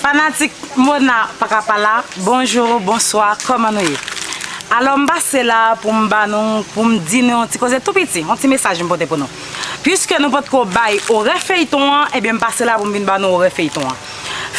Fanatik Mona paka pala bonjou bonswa kòman nou ye alò m pase la pou m ba nou pou m di nou yon ti koze tou piti yon ti mesaj m pote pou nou piske nou potko bay orè feyton an ebyen m pase la pou m vin ba nou orè feyton an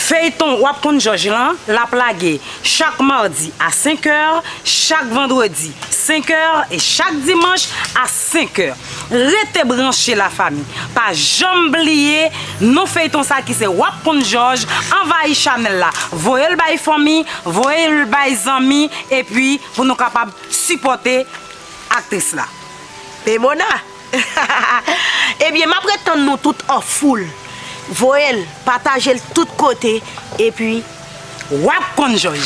feyton wap konn jòj lan lap lage chak mardi a 5 è chak vandredi 5 è e chak dimanch a. 5h. Rete branche la fami. Pa janm bliye non feyton sa ki se wap konn jòj anvayi chanèl la voyel bay fanmi voyel bay zanmi epi pou nou kapab sipòte aktris la. E mona hahahaa ebyen map ret tann nou tout an foul voyel patajel tout kote epi. Wap konn jòj.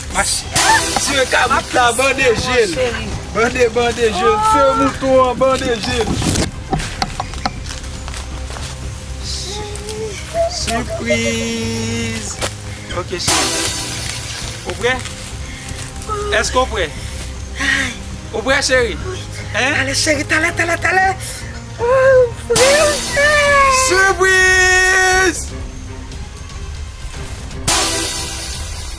Mache Dieu kabrit la bande jel Bande bande jel Feu mouton an bande jel Surprise Ok chérie Ou prè? Eske ou prè? Ou prè chérie? Talè chérie talè talè talè Ou prè ou prè? Surprise!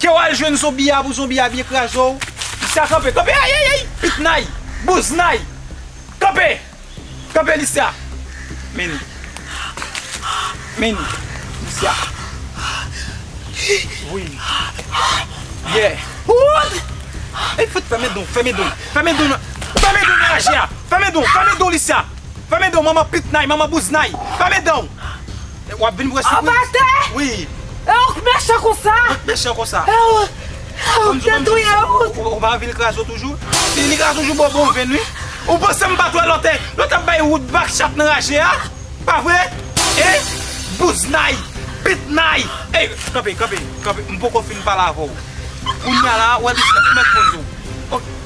Ke wal jwenn zonbi a pou zonbi a byen kraze w Listya kanpe kanpe ayayayy pitnay bouznay kanpe kanpe listya Meni Meni listya Voye li ye Wood Ey fout fèmen don fèmen don fèmen don nan fèmen don nan raje a fèmen don fèmen don listya fèmen don manman pitnay manman bouznay fèmen danw. Wap vin vre sipriz. Anba tè? Wi. E ou k mechan konsa? Mwen k mechan konsa? E ou k te touye Ruth? Ou pa anvi l kraze w toujou? Si li kraze w jou ba w bon venn wi. Ou panse m pa t wè lò te lò tap bay Ruth bak chat nan raje a? Pa vre? E bouznay, pitnay. Ey kanpe, kanpe, kanpe. M poko fin pale avè w. Kounya la ou wè bisnèt ou mèt konn di w.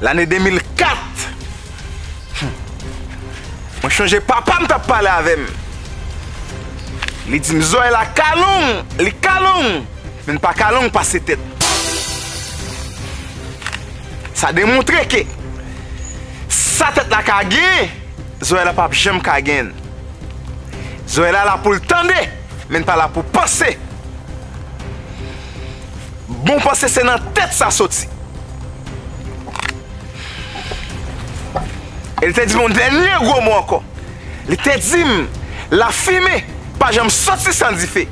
Lane 2004, mwen chonje papa m t ap pale avè m. Li di m zòrèy la ka long, li ka long, men li pa ka long pase tèt. Sa demontre ke sa tèt la ka gen, Zoya pap janm ka gen l. Zoya la pou l tande men l pa la pou panse. Bon panse se nan tèt sa soti. E li te di m yon dènye gwo mo ankò. Li te di m lafime pa janm soti san dife.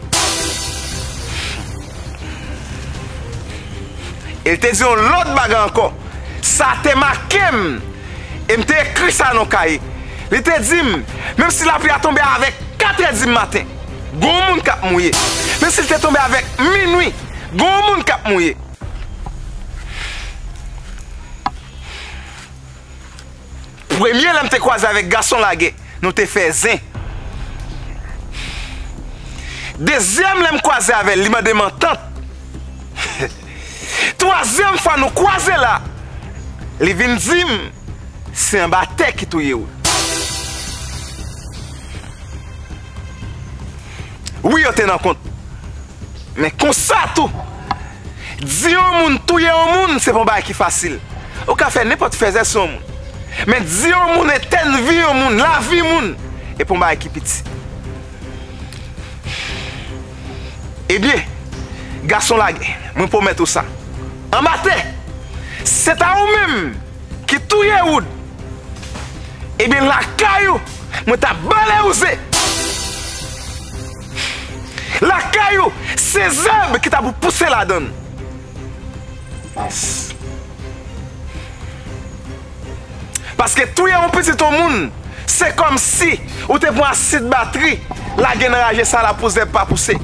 E li te di yon lòt bagay ankò. Sa te make m, e m te ekri sa nan yon kaye. Li te di m, menmsi lapli a tonbe avèk katrèdimaten, gen yon moun k ap mouye. Menmsi li te tonbe avèk minwi, gen yon moun k ap mouye. Premye lèm te kwaze avèk gason lage nou te fè zen Dezyèm lèm kwaze avèl li mandem antant Twazyèm fwa nou kwaze la li vin dim se anba tè ki touyew Wi yo te nan kont men konsa tou Di yon moun touye yon moun se pa yon bagay ki fasil. Ou ka fè nenpòt fèzè sou yon moun. Men di yon moun etèn vi yon moun, lavi yon moun, e pa yon bagay ki piti. Ebyen, gason lagè, mwen pwomèt ou sa. Anba tè! Se ta ou menm ki touye Wood, ebyen lakay ou mwen ta bale ou ze! Lakay ou, se zèb ki ta pou pouse ladann. Mas. Paske touye yon pitit yon moun, se kòmsi ou te pran asid batri lage nan raje sa la pou zèb pa pouse.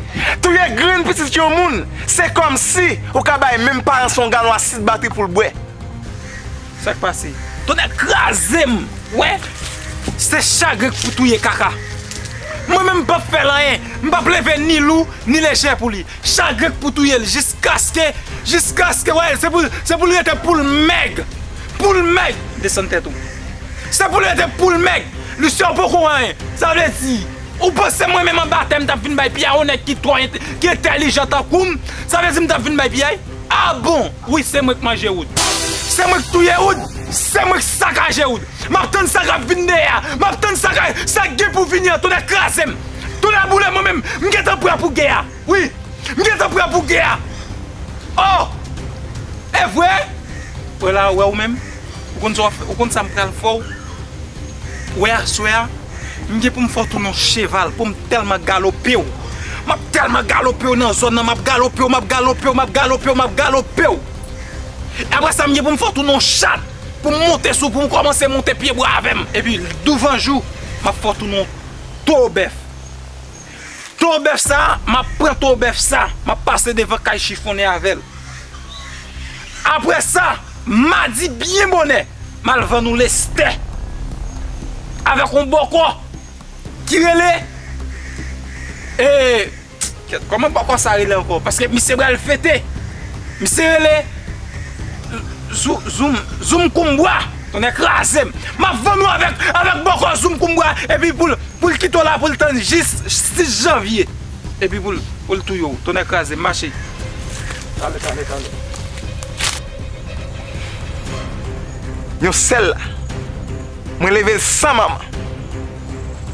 Touye grenn pitit yon moun, se kòmsi ou ka bay menm paran sa yon galon asid batri pou l bwè. Sak pase? Tonnè krazem wè se chagrin k pou touye kaka mwen menm m pap fèl anyen m pap leve ni lou ni lejè pou li chagrin k pou touyel jiskaske jiskaske wè se pou se poul rete poul mèg poul mèg desann tèt ou se poul rete poul mèg Lucien ou poko anyen sa vle di ou panse mwen menm anba tè m tap vin bay piyay yon nèg ki twò ki entèlijan tankoum sa vle di m tap vin bay piyay. Ah bon wi se mwen k manje wood se mwen k touye wood se mwen k sakaje wood map tann sa kap vin deyè a map tann sa kay sa k gen pou vini an tonnè krazem tonnè boulem mwen menm m gentan prè pou gè a wi m gentan prè pou gè a oh evre wè la wè ou menm. Ou konn sa wap fè, ou konn sa m pral fè w wè aswè a? M gen pou m fè w tounen yon cheval pou m tèlman galope w. M ap tèlman galope w nan zòn nan, m ap galope w, m ap galope w, m ap galope w, m ap galope w. E aprè sa m gen pou m fè w tounen yon chat pou m monte sou, pou w kòmanse monte pyebwa avè m. Epi douvanjou, m ap fè w tounen yon towo bèf. Tro bèf sa map pran tro bèf sa map pase devan kay chifonnen avèl aprè sa madi byen bonè mal vann ou lestè avèk on bòkò ki rele ee kèt kòman bòkò sa rele ankò paske misye bal fete misye rele zoum zoum koum bwa. Tonnè krazem! Map vann ou avèk avèk bòkò zoum kou m bwa epi poul poul kite w la poul tann jis 6 janvye epi poul poul touye w tonnè krazem mache tale tale tale. Yon sèl la mwen level san manman.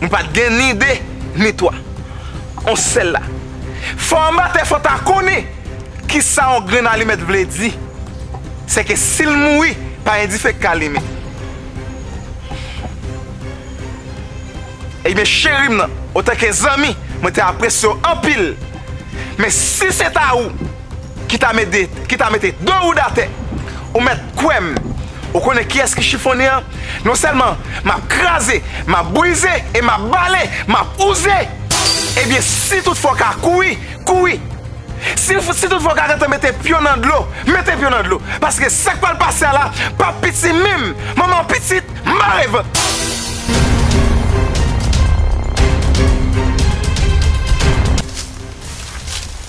Mwen pa t gen ni de, ni twa. On sèl la. Fò anba tè fò ta konnen ki sa on grenn alimèt vle di. Se ke si l mouri, pa gen dife k ka limen. Ebyen cheri m nan, otanke zanmi, mwen te apresye w anpil. Men si se ta ou. ki ta mede ki ta mete de woud atè ou mèt kwèm ou konnen kiyès ki chifonnen an non sèlman map kraze map brize e map bale map ouze ebyen si tout fwa w ka kouri kouri si si tout fwa w ka gentan mete pye w nan dlo mete pye w nan dlo paske sak pral pase a la pap piti minm manman pitit mare vant.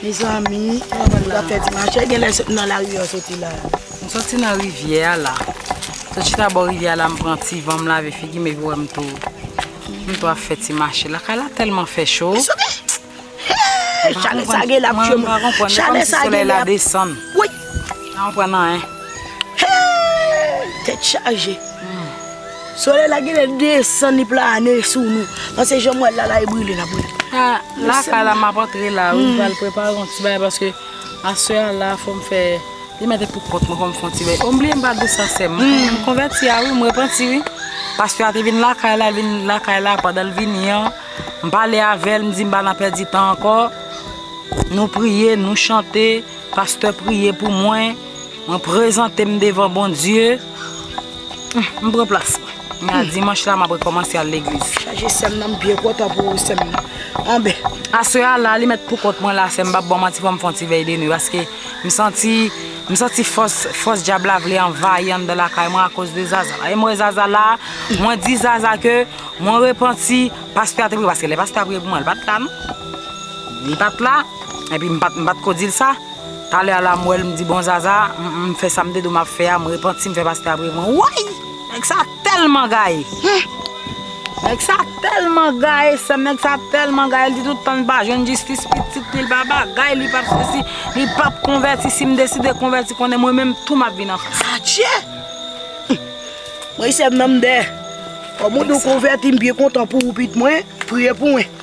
Mezanmi nou ta fè ti mache gen lè soti nan lari an soti la. M soti nan rivyè a la. Sot chita bò rivyè a la m pran ti van m lave figi m epi wè m tou m tou ap fè ti mache. Lakay la tèlman fè cho. Hee chalè sa genlè ap tchwem. Mwen pa konprann se kòm si solèy la desann. Wouyy. Mwen pa konprann anyen. Hee tèt chaje. Solèy la genlè desann li plane sou nou paske janm wèl la la e brile nap brile. A la kay la map antre la wi pral prepare yon ti bagay paske aswè a la fòm fè li mèt e pou kont mwen fòm fon ti bagay o m bliye m pa di sa sèm m konvèti a wi m repanti wi paske a te vin la kay la vin la kay la pandan l vini an m pale avèl m di m pa nan pèdi tan ankò nou priye nou chante pastè priye pou mwen. Mwen prezante m devan Bondye. M pran plas mwen. M nan dimanch la map rekomanse al legliz. Chaje sèm nan m byen kontan pou ou sèm nan. Anben. Aswè a la li mèt pou kont mwen la sèm m pap baw manti fòm fon ti vèy de nwi paske m santi m santi fòs fòs dyab la vle anvayi anndan lakay mwen akoz de Zaza la e m wè Zaza la mwen di Zaza ke mwen repanti pastè a te priye paske lè pastè a priye pou mwen li pat la non li pat la epi m pat m pat ko dil sa. Talè a la m wèl m di bon Zaza m fè sa m te di w map fè a m repanti m fè pastè a priye pou mwen woy nèg sa tèlman gaye humm nèg sa tèlman gaye sèm nèg sa tèlman gaye l di tout tanl pa jwenn jistis pitit li l pa bagay li pap sesi li pap konvèti sim deside konvèti konnen mwen menm tou map vin anfan. Adjee humm mwen sèm nan m dèyè kòm ou di w konvèti m byen kontan pou ou pit mwen priye pou mwen.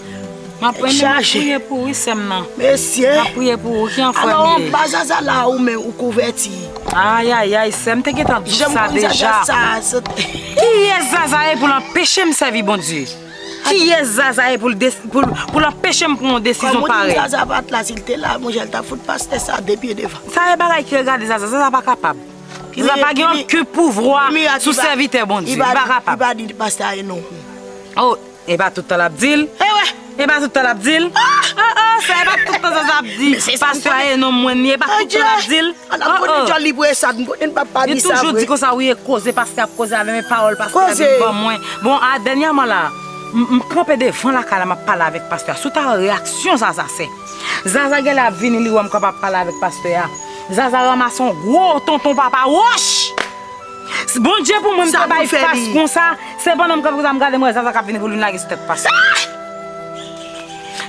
Map renmen map priye pou wi sèm nan. Mesi. Map priye pou ou ki anfòm ye. Alo an pa zaza la ou menm ou kouvèti. Ayayay sèm te gentan di sa deja. Kiyès zaza ye poul anpechem sèvi Bondye? Kiyès zaza ye poul anpechem pran yon desizyon parèy? Kòm ou di zaza pat la sil te la mon chè li tap fout pastè sa 2 pye devan. Sa e bagay ki regade zaza, zaza pa kapab. Zaza pa gen oken pouvwa sou sèvitè Bondye, li pa kapab. Li pa di pastè a e non. Epa tout tan lap dil. Ewè! Epa tout tan lap dil. Oh! Oh oh! Sa epa tout tan Zaza ap di. Pastè a ye nonm mwen li. Epa tout tan lap dil. Oh oh! An ap konnen djòl li pou Esad. M konnen pap pa di sa vre. Li toujou di konsa wi e koze pastè ap koze avèm e pawòl pastè a vin ban mwen. Bon a dènyèman la m kanpe devan lakay la map pale avèk pastè a. Si w ta wè reyaksyon Zaza fè. Zaza genlè ap vini li wèm kanpe ap pale avèk pastè a. Zaza ranmase yon gwo tonton papa wòch! Bondye pou mwen m te bay fas konsa se pandan m kanpe konsa m gade m wè Zaza kap vini pou li lage sou tèt Pastè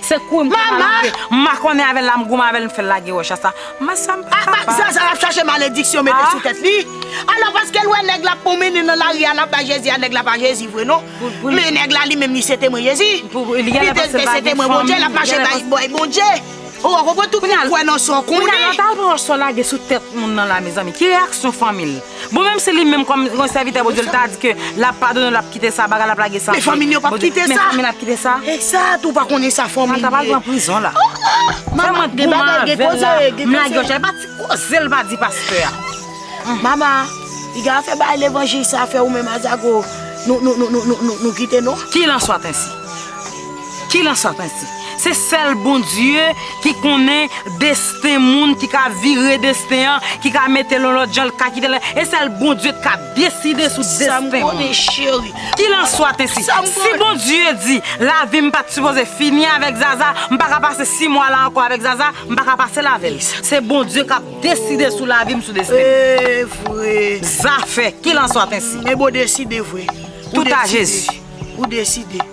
se kouri m te mal antre m makònen avèl la m goumen avèl m fèl lage wòch a sa mwen sa m pa ka pa Zaza ap chache malediksyon mete sou tèt li alò paskel wè nèg la ap pwonmennen nan lari a lap bay Jezi a nèg la pa Jezi vre non men nèg la li menm li se temwen Jezi li te se temwen Bondye lap mache bay Bondye. Ou wè konprann tou kounye a l kwè nan sa w konnen. Kounye a lè w ta al pran yon so lage sou tèt moun nan la mezanmi ki reyaksyon fanmi l? Bon menm si li menm kòm yon sèvitè Bondye l ta di ke l ap padone w l ap kite sa bagay l ap lage sa men fanmi l yo p ap kite sa men fanmi l ap kite sa Ekzat ou pa konnen sa fanmi l ye Martha pral pran prizon la Fè mwen goumen avè l la m lage yon chay pa ti koze l pa di pastè a Mama piga fè bagay levanjil sa fè ou menm ak zago nou kite nou. Kil an swat ensi. Kilanswa prensip, se sèl Bondye ki konnen desten moun, ki ka vire desten an, ki ka mete l yon lòt jan, l ka kite l, e sèl Bondye k ap deside sou desten moun. Kilanswa prensip, si Bondye di lavi m pa t sipoze fini avèk Zaza, m pa ka pase si mwa la ankò avèk Zaza, m pa ka pase l avè l. Se Bondye k ap deside sou lavi m, sou desten m. Zafè, kilanswa prensip. Tout a Jezi.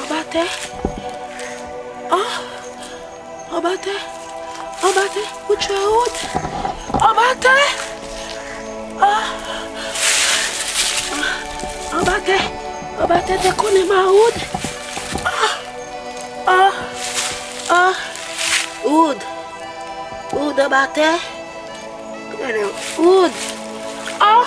Anba tè! Oh! Anba tè! Anba tè! Ou tchwe out! Anba tè! Oh! Anba tè! Anba tè te konnen ma out! Oh! Oh! Oh! Out! Out anba tè! Ou! Oh!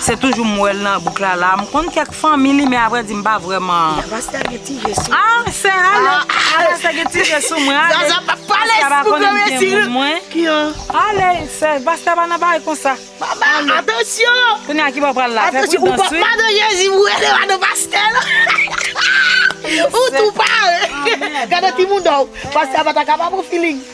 Se toujou m wèl nan bouk la la. M konn kèk fanmi li men a vrè di m pa vrèman. Yavas ta gen ti je sou mwen. Ah sè ale. Yavas ta gen ti je sou mwen ale. Zaza pa pale si pou gran mesi li. Ki an? Ale sè pastè pa nan bagay konsa. Atansyon. Kounye a kibo pral la. Fè pridans wi. Madan jezi m rele madan pastè la. Ou tou pare. Gade ti mouda w. Pastè a pa ta ka pa pran feeling.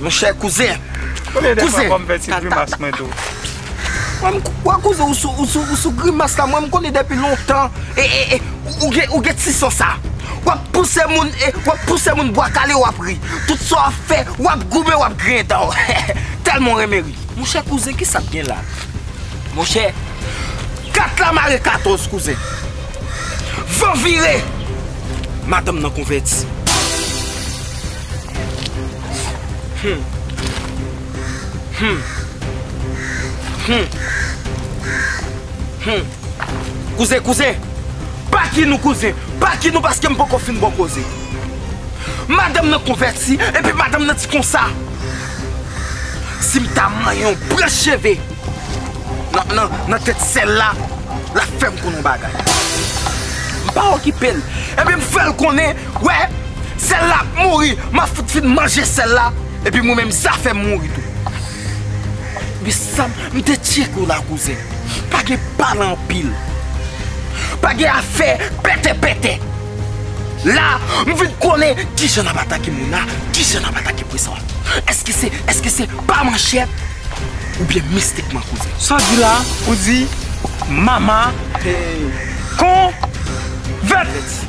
Monchè kouzen. Konbyen de fwa fòm fè ti grimas mwen tou. Wè kouzen ou sou grimas la mwen m konnen depi lontan ou gen ti san sa. Wap pouse moun wap pouse moun bwa kale wap ri. Tout sa wap fè wap goumen wap griyen dan w tèlman w renmen ri. Monchè kouzen kisa'p gen la. Monchè 4 la mare 14 kouzen. Van vire madanm nan konvèti. Kouzen, kouzen! Baki nou kouzen! Baki nou paske m poko fin bon koze. Madanm nan konvèti epi madanm nan di konsa, Si m ta manyen yon branch cheve nan tèt sèl la, l ap fè m konn yon bagay. M pa okipe l, epi m fè l konnen. Wè! Sèl la ap mouri! Map fout fin manje sèl la epi mwen menm zafèm mouri tou. Men sa m te tcheke w la kouzen, pa gen pale anpil, pa gen afè pète pète. La m vin konnen kijan n ap atake Mona, kijan n ap atake Preswa. Eske se, eske se pa manchèt oubyen mistikman kouzen? Sa w di la, ou di Mama konvèti.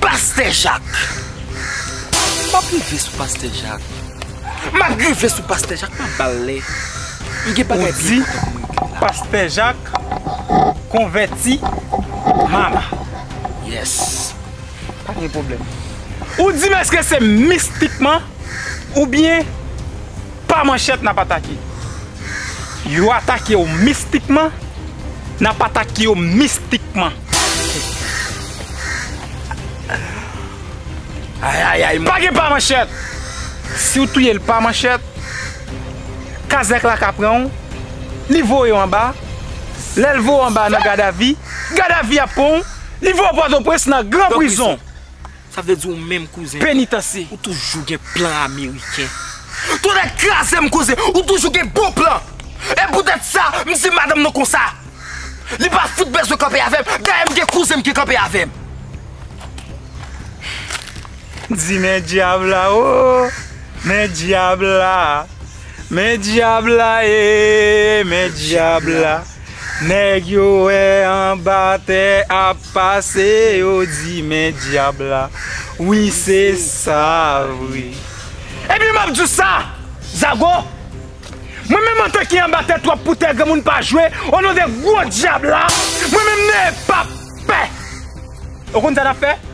Pastè jak Map rive sou pastè jak Map rive sou pastè jak Map bal lè M gen bagay pi enpòtan pou m regle la Ou di pastè jak konvèti mama Yes Pa gen pwoblèm Ou di m eske se mistikman Ou byen pa manchèt nap atake yo atakew mistikman nap atake yo mistikman ayayay pa gen pa manchèt siw touyel pa manchèt kazèk la ka pranw li voyew anba lèl voyew anba nan gadavi gadavi ap pranw li voyew pòtoprens nan gran prizon Sa vle di ou menm kouzen. Penitansye. Ou toujou gen plan ameriken. Tonnè kraze m kouzen ou toujou gen bon plan. E poutèt sa m di madanm nan konsa. Li pa fout bezwen kanpe avè m. Dayè m gen kouzen m ki kanpe avè m. Di men dyab la oo. Men dyab la. Men dyab la ee. Men dyab la. Nèg yo wè anba tè ap pase yo di men dyab la wi se sa vre. Ebyen map diw sa zago mwen menm antan ki anba tè twòp pou tè granmoun pa jwe o non de gwo dyab la mwen menm nèe pap pè ou konn sa nap fè.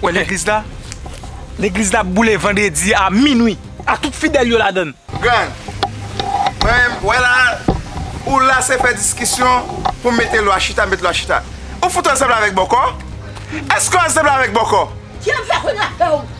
Wè legliz la? Legliz la ap boule vandredi a minwi ak tout fidèl yo ladann. Grann, mwen menm, wè la a, ou la se fè diskisyon pou mete lwa chita met lwa chita. Ou fout ansanble avèk bòkò? Èske w ansanble avèk bòkò? Ki ap fè kounye a, pè ou?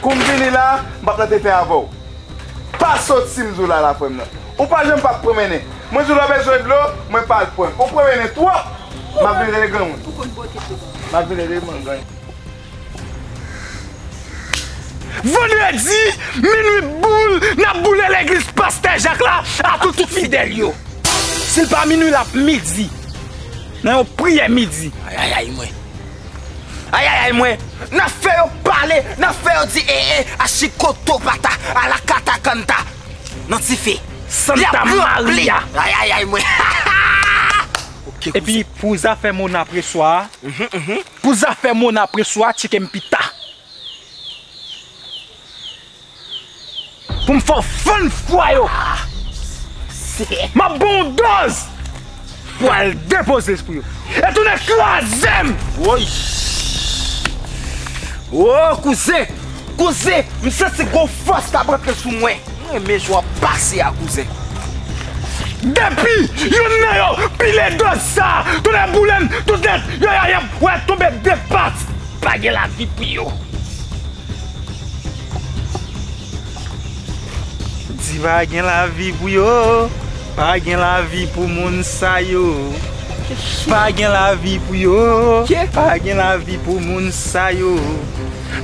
Kou m vini la, m pa p nan defen avè w. Pa sot si m di w la la frè m nan. Ou pa janm pa p pwomennen. Mwen di w lè w bezwen dlo, mwen pa al pran. Ou pwomennen twòp. M ap vin rele granmoun. Ou konn bwote dlo ba m. M ap vin rele m granmoun. Vandredi minwi boul n ap boule legliz Pastè Jak la ak tout fidèl yo. Si l pa minwi l ap midi nan yon priyè midi. Ayayay mwen. Ayayay mwen Nan fè yo pale Nan fè yo di ee Achikoto pata Ala kata kanta Nan ti fi Santa Maria Ayayay mwen Ok kouzen Epi pou zafè Mona preswa a Pou zafè Mona preswa a tcheke m pita. Pou m fè w fann fwa yo. M ap ban w dòz pou w al depoze espri yo. E tounen kraze m! Woy! O! Kouzen! Kouzen! M santi gwo fòs k ap antre sou mwen. M renmen jan w ap pase a kouzen. Depi youn nan yo pile dòz sa, tonnè boule m, tout nèt yo y ap wè tonbe de pat. Pa gen lavi pou yo. Di pa gen lavi pou yo, pa gen lavi pou moun sa yo Pa gen lavi pou yo, pa gen lavi pou moun sa yo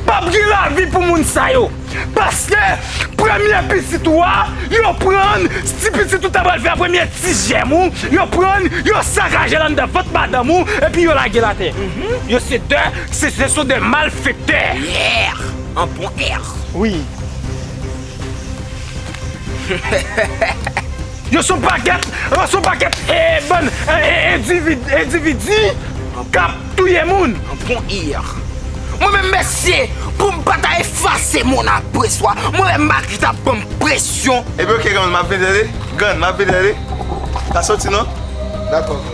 Pap gen lavi pou moun sa yo Paske premye pitit ou a yo pran l Ti pitit ou ta pral fè a premye ti jèm ou yo pran l Yo sakaje l anndan vant madanm ou epi yo lage l atè Yo se de Se se son de mal fektè. Yeeh an bon air. Wi. Yo son pakèt an son pakèt ee bann ee endividi kap touye moun. An bon air. Mwen menm mesye poum pata efase mon après swa mwen wè Magritte ap banm presyon. Ebyen ok grann map vin tande. Grann map vin tande. Pa soti non. Dakò.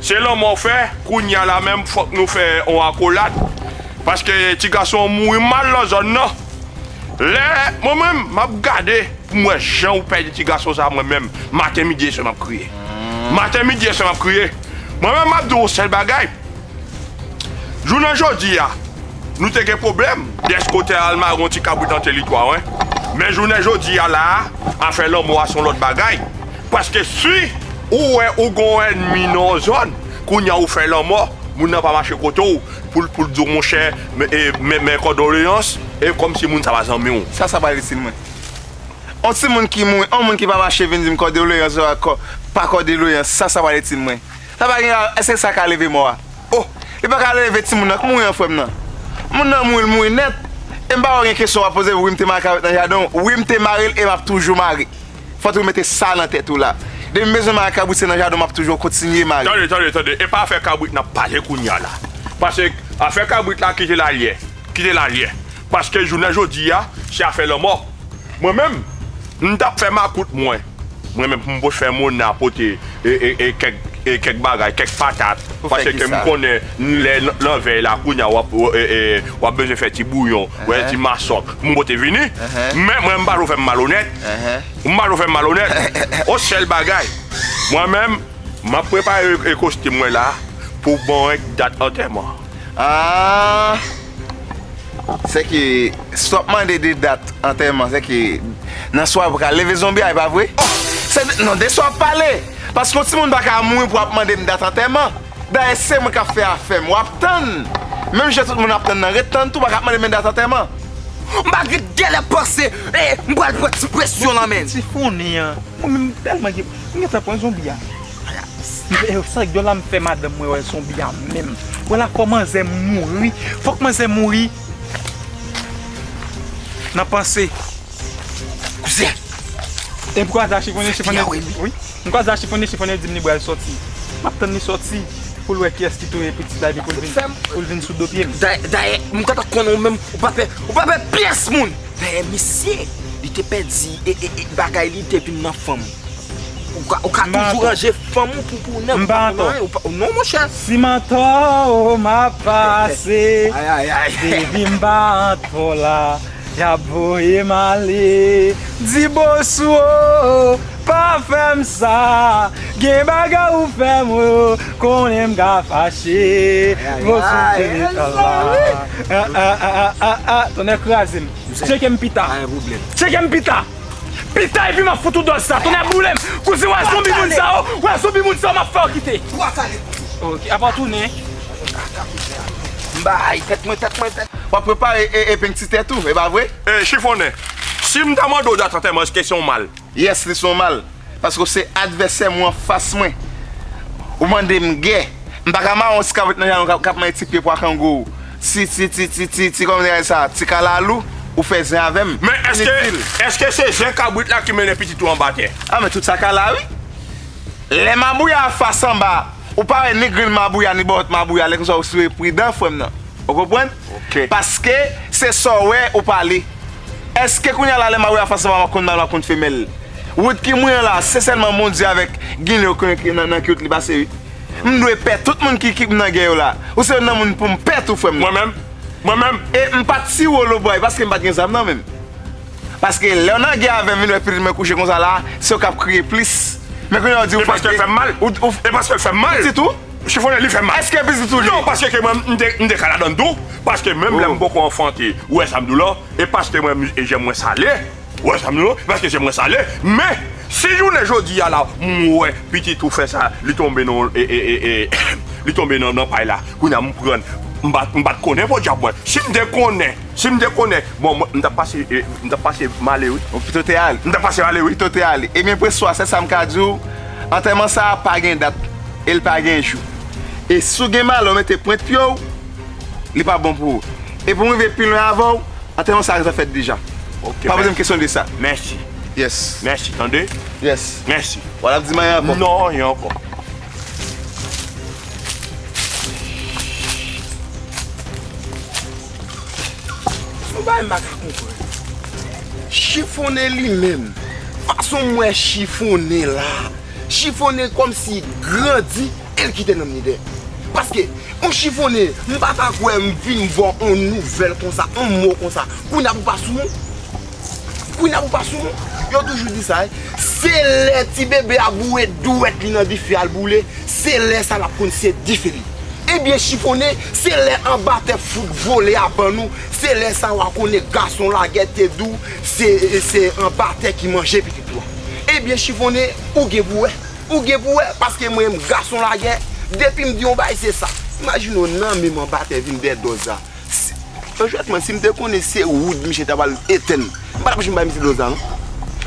Se lanmò fè, kounya la menm fòk nou fè on akolad, paske ti gason an mouri mal lan zòn nan. Lè mwen menm map gade poum wè jan ou pèdi ti gason sa mwen menm maten midi e swè map kriye. Maten midi e swè map kriye. Mwen menm map di w on sèl bagay, jounen jodi a nou te gen pwoblèm dèske ou te al mare on ti kabrit an teritwa w, men jounen jodi a la a afè lanmò a son lòt bagay. Paske si ou wè ou gon ènmi nan yon zòn, kounye a ou fè lanmò, moun nan pa mache kote w pou l di w monchè mè kòdoleyans, e kòmsi moun sa pa zanmi w. Sa sa pral itil mwen? On ti moun ki mouri, on moun ki pa mache vin di m kòdoleyans oswa pa kòdoleyans, sa sa pral itil mwen? Sa pa gen a, èske sa ka leve mò a? O! Li pa ka leve ti moun nan k mouri an frè m nan. Moun nan mouri, l mouri nèt. E m pa wè w gen kesyon w ap poze m wi m te mare kawèt nan jaden w, wi m te mare l e m ap toujou mare. Fòt ou mete sa nan tèt ou la. Depi m bezwen mare kabrit se nan jaden w map toujou kontinye mare. Tande tande tande epa afè kabrit nap pale kounya la pase afè kabrit la kite lalyè kite lalyè paske jounen jodia se afè lanmò mwen menm m tap fè makout mwen mwen menm pou m pot fè mona pote e kèk e kèk bagay kèk patat paseke m konnen lè nan vèy la kounya wap e wap bezwen fè ti bouyon wè ti masòk pou m pote vini men mwen m pa vle w fè m malonèt Ou mal ou fè malonèt. On sèl bagay, mwen menm, m ap prepare ekostim mwen la pou bon ek dat antèman. Aah! Sèke, si w ap mande de dat antèman, sèke, nan swa pral leve zonbi a, e pa vre? Oh! Se de, non, de swa w ap pale! Paske yon timoun pa ka mouri pou w ap mande m dat antèman. Dayè se mwen kap fè afèm wap tann menm jan tout moun ap tann nan ret tann tou baka mande men dat antèman. M pa gret gèlè panse m pral pran ti presyon lan menn. Ti founi an mwen menm telman gen m gentan pran zonbi a ayayis sa gèl la m fè madanm mwen wè zonbi a menm wè la fò manzè mouri fòk manzè mouri nan panse kouzè. Ebgwadla chifone chifone wi. M kwaze a chifonnen chifonnen dim li bral sòti map tann li sòti poul wè kiyès ki touye pitit la epi poul vin poul vin sou do pyem. Dayè m gentan konnen ou menm ou pa pè ou pa pè pyès moun. Dayè misye li te pèdi bagay li te vin nan fanm ou ka ou ka toujou ranje fanm ou pou ou nèg pa konn anyen non monchè. Si m antò ou map pase baby m pa antò la. Yap voyem ale di boss ou oo pa fèm sa gen bagay ou fèm ou konnen m ka fache boss ou te metan la aaaaa tonnè krazem tchekem pita tchekem pita pita epi map fout ou dòz sa tonnè boulem kouzen wè zonbi moun sa yo wè zonbi moun sa yo map fèw kite ok apa tounen. M bay tèt mwen, tèt mwen, tèt mwen. Wap prepare epeng ti tèt ou, e pa vre? Ey chifonnen, si m ta mande w dat antèman eske se yon mal? Yes li se yon mal, paske w se advèsè mwen anfas mwen. Ou mande m gè, m pa ka mare yon ti kavrit nan janw k ap manje ti pye pwa kango w. Ti, ti, ti, ti, ti, ti kòman dirè sa, ti kalalou, ou fè zen avè m. Men eske, eske se zen kabrit la ki mennen pitit ou anba tè? A men tout sa ka la wi. Lè mabouya a fas anba Ou pa wè ni gril mabouya ni bòlòt mabouya lè konsa ou siwe pridan frèm nan ou konprann paske se sa w wè ou pale èske kounya la lè mabouya fè sèman wap konn mal wap konn femèl wout ki mouye la se sèlman bondye avèk ginlè yo konnen ki nan ki wout li pase wi m dwe pè tout moun ki m nan gen yo la ou se youn nan moun poum pè tou frèm nan mwen menm e m pat siwe w lobway paske m pat gen zam nan menm. Paske lèw nan gè avèm vin wè pitit mwen kouche konsa la sew kap kriye plis men kounya ou di ou fete e paskel fèm mal pitit ou chifonnen li fèm mal eske pitit ou li non paske ke mwen mte ka ladann tou paske menm lèm poko anfante ou wè sam diw lan e paske mwen jèm mwen sale ou wè sam diw lan paske jèm mwen sale men si jounen jodi a la m wè pitit ou fèsa li tonbe nan ee li tonbe nan pay la kounya m prann m pat konnen podyab mwen sim te konnen. Si m te konnen, bon, m t ap pase, m t ap pase m ale wi. Ou pito te ale. M t ap pase m ale wi. Ou pito te ale. Ebyen Preswa, sèl sa m ka di w, antèman sa a pa gen dat e l pa gen jou. E si w gen malè w mete pwent pye w, li pa bon pou ou. E pou m rive pi lwen avè w, antèman sa a gentan fèt deja. Pa poze m kesyon de sa. Mèsi. Yes. Mèsi, tande? Yes. Mèsi. W al ap di m anyen ankò? Non, anyen ankò. Yon bagay m pa ka konprann. Chifonnen li menm. Fason m wè chifonnen la. Chifonnen kòm si grandi e l kite nanm li dèyè. Paske yon chifonnen m pa ta kwè m vin vwa yon nouvèl konsa, yon mo konsa. Kounya pou pa sou. Kounya pou pa sou moun, yo toujou di sa wi, se lè ti bebe a boure dwèt li nan dife al boule, se lè sa lap konn se dife li. Ebyen chifonnen, se lè anba tè fout vole a ban nou, se lè sa wa konnen gason lagè te di w se se anba tè ki manje pitit ou a. Ebyen chifonnen, ou gen pou wè, ou gen pou wè, paske mwen menm gason lagè, depi m di yon bagay se sa. Imajine w nan menm anba tè vin dè dòz a. Franchement sim te konnen se wood misye ta pral etenn m pa tap janm bay misye do sa non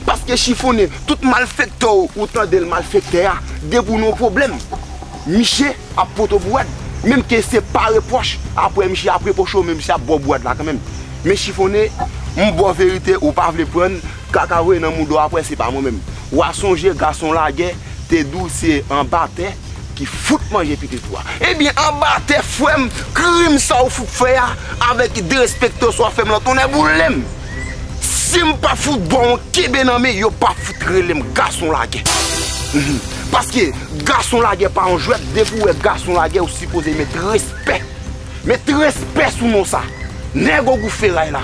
paske chifonnen tout malfektè ou tandel malfektè a depi ou nan yon pwoblèm misye ap pot ou bwad menm ke se pa repwòch aprè misye ap repwoche ou men misye ap baw bwad la kanmenm men chifonnen m baw verite ou pa vle prann kaka voye nan mouda w aprè se pa mwen menm wa sonje gason lagè te di w se anba tè. ki fout manje pitit ou a. Ebyen anba tè frèm krim sa ou fout fè a avèk derespekte ou sa wap fèm lan tonnè boulem sim pa fout baw yon kenbe nan men yo pa fout relem gason lagè paske gason lagè pa yon jwèt depi ou wè gason lagè ou sipoze met respè met respè sou non sa nèg ogou feray la.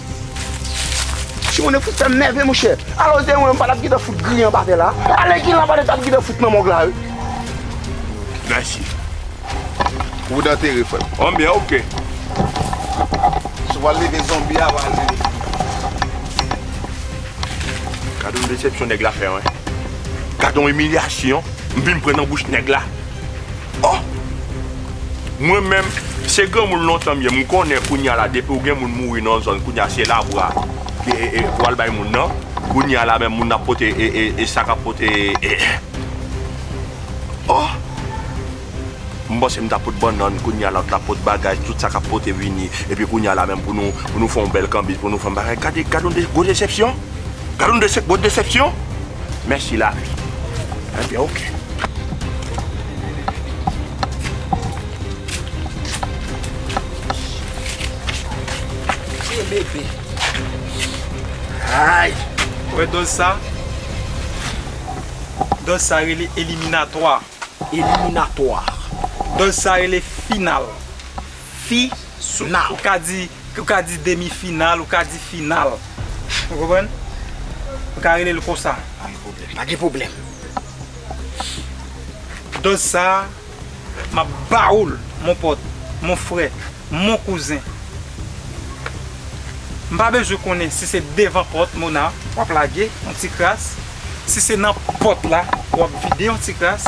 Ti moun yo fout fèm nève monchè. Alò se te mwen m pa tap gentan fout griyen anba tè la. Alè Guy Lavalette tap gentan fout nan mòg la wi. Mèsi. Ou vle antere frè m? An byen ok. Sou wal leve zonbi a wal leve. Gadon desepsyon nèg la fè mwen. Gadon imilyasyon m vin pran nan bouch nèg la. Oh! Mwen menm, se granmoun lontan m ye, m konnen kounya la depi w gen moun mouri nan yon zòn kounya se labra pou al bay moun nan, kounya la menm moun nan ap pote e sak ap pote e Oh! M panse m ta pot bannann kounya lòt la pot bagay tout sa k ap pote vini epi kounya la menm pou nou fon bèl kanbiz pou nou fon bagay gade yon gwo desepsyon. Gad yon desep bon desepsyon mèsi lavi enben ok. Tye bebe. Ayy. Ou wè dòz sa? Dòz sa rele eliminatwa. Eliminatwa. Dòz sa rele final. Fi. Now. Ou ka di, ou ka di demi final, ou ka di final. Ou konprann? Ou ka rele l konsa. Pa gen pwoblèm, pa gen pwoblèm. Dòz sa a, m ap ba ou l, mon pòt, mon frè, mon kouzen. M pa bezwen konnen si se devan pòt Mona w ap lage yon ti kras, si se nan pòt la w ap vide yon ti kras.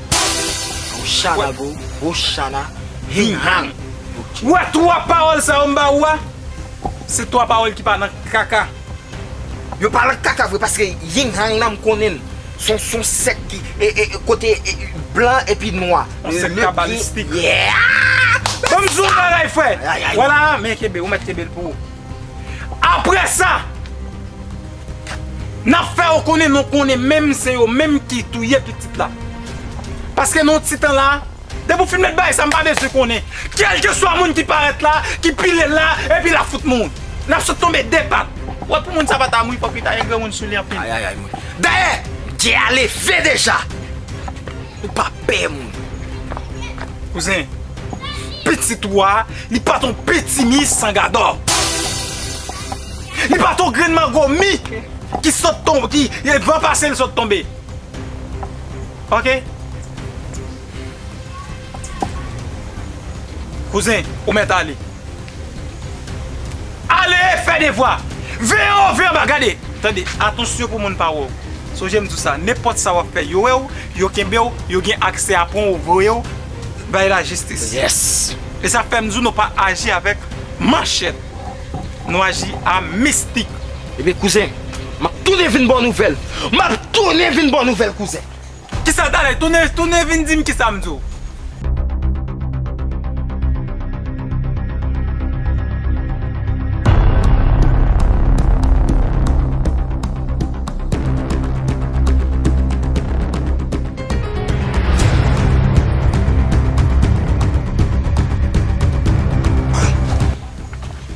Rochana bro, Rochana Hing Hang. Ou wè 3 pawòl sa yo m ba ou a, se 3 pawòl ki pa nan kaka. Yo pa nan kaka vre paske Hing Hang nan m konnen l, se yon son sèk ki kote blan epi nwa. Yon sèk kabalistik. Bon m di w yon bagay frè, wè la a, men kenbe, ou mèt kenbe l pou ou. Apre sa, n ap fè yo konnen nou konnen menm se yo menm ki touye pitit la. Paske nan yon ti tan la, depi w fin met bagay sa m pa bezwen konnen. Kèlkeswa moun ki parèt la, ki pile l la, epi l ap fout mouri. L ap sot tonbe de pat. Wè pou moun sa pa ta mouri fòk li ta gen granmoun sou li anpil. Dayè, gè a leve deja. Ou pa pè moun. Kouzen, pitit ou a, li pa ton pitimi san gadò. Li pa ton grenn mango mi ki sot tonbe, ki e van pase li sot tonbe. Ok? Kouzen, ou mèt ale. Ale fè devwa! Veye w veye w ba gade! Tande, atansyon pou moun pa wè w. Sonje m di w sa, nenpòt sa w ap fè yo wè w, yo kenbe w, yo gen aksè a pran w voye w bay lajistis. Yes! E sa fè m di w nou pa aji avèk manchèt. Nou aji a mistik. Ebyen kouzen, m ap tounen vin ba w nouvèl. M ap tounen vin ba w nouvèl kouzen. Kisa tale tounen tounen vin dim kisa m di w.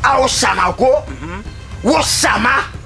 Awo chama ou ko? Wo chama?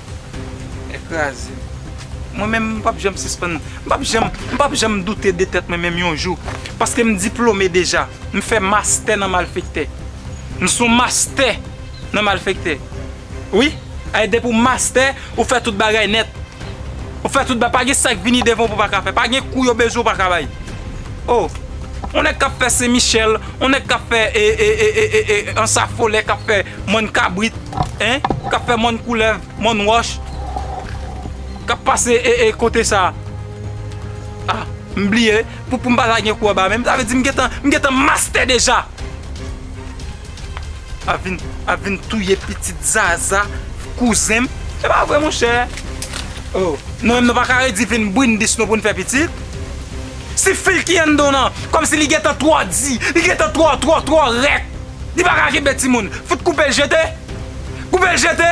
Kè kraze. Mwen menm m pap janm sispann, m pap janm, m pap janm doute de tèt mwen menm yon jou. Paske m diplome deja. M fè mastè nan malfektè. M son mastè nan malfektè. Wi. Ay depi w mastè, ou fè tout bagay nèt. Ou fè tout ba, pa gen sa k vini devan w pou pa ka fè. Pa gen kou yo bezwen w pa ka bay. Oh on nèg kap fè sen michèl on nèg kap fè ee ansafolè kap fè mòn kabrit hein kap fè mòn koulèv mòn wòch kap pase ee kote sa ah m bliye pou m pa lage kou anba menm sa vle di m gentan m gentan mastè deja. Ap vin touye pitit zaza kouzenm. Se pa vre monchè. Oh nou menm nou pa ka redi vin brindis nou pou nou fè pitit. Si fil ki anndan w lan kòm si li gentan twò di, li gentan twò twò twò rèk. Li pa ka kenbe timoun. Fout koupe l jete. Koupe l jete.